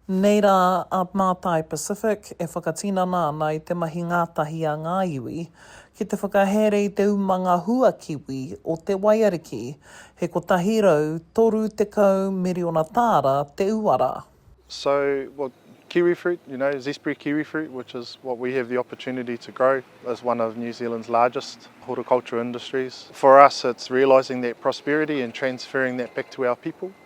Nei rā a Mātai Pacific e whakatinana ana i te mahi ngātahi a ngā iwi ki te whakahaere i te umanga hua kiwi o Te Waiariki, he 130 miriona tāra te uara. So, well, kiwi fruit, you know, Zespri kiwi fruit, which is what we have the opportunity to grow, is one of New Zealand's largest horticultural industries. For us, it's realising that prosperity and transferring that back to our people.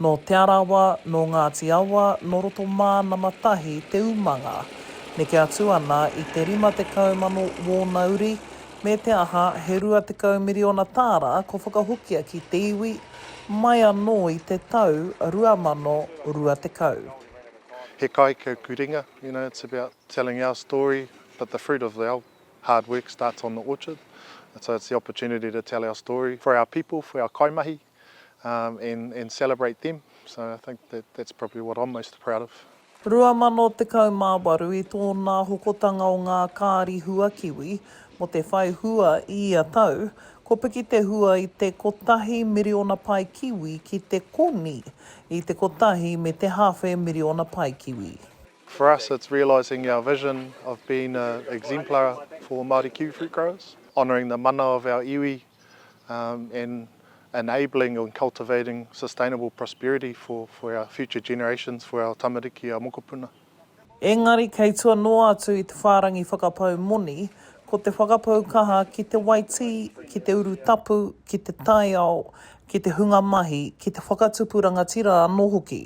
Nō Te Arawa, nō Ngāti Awa, nō roto mā nama tahi te umanga. Neke atu ana i te 50 mano wōna uri, me te aha, he 20 miriona tāra ko whakahokia ki te iwi, mai anō i te tau 2020. He kāikahu kurenga, you know, it's about telling our story, but the fruit of our hard work starts on the orchard, and so it's the opportunity to tell our story for our people, for our kaimahi. and celebrate them so I think that that's probably what I'm most proud of. 2018 i tōnā hokotanga o ngā kāri hua kiwi mo te whai hua i ia tau, ko piki te hua i te kotahi miriona pae kiwi ki te koni i te kotahi me te hawhe miriona pae kiwi. For us it's realising our vision of being a exemplar for Māori kiwifruit growers, honouring the mana of our iwi and enabling and cultivating sustainable prosperity for for our future generations, for our tamariki, our mokopuna. Engari kei tua noa atu i te whārangi whakapau moni, ko te whakapau kaha ki te waitī, ki te uru tapu, ki te taiao, ki te hunga mahi, ki te whakatupu rangatira anō hoki.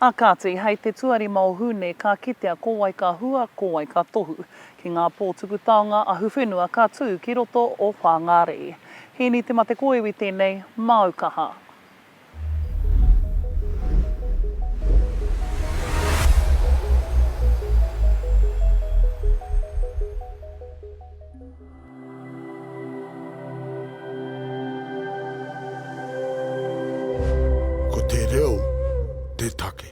A kāti, hei te tuarima o Hune ka kitea ko wai ka hua, ko wai ka tohu. Ki ngā pō tuku taonga ahuwhenua ka tū ki roto o Whāngārei. Hīni Te Matekōiwi tēnei, māu kaha. Ko te reo te take.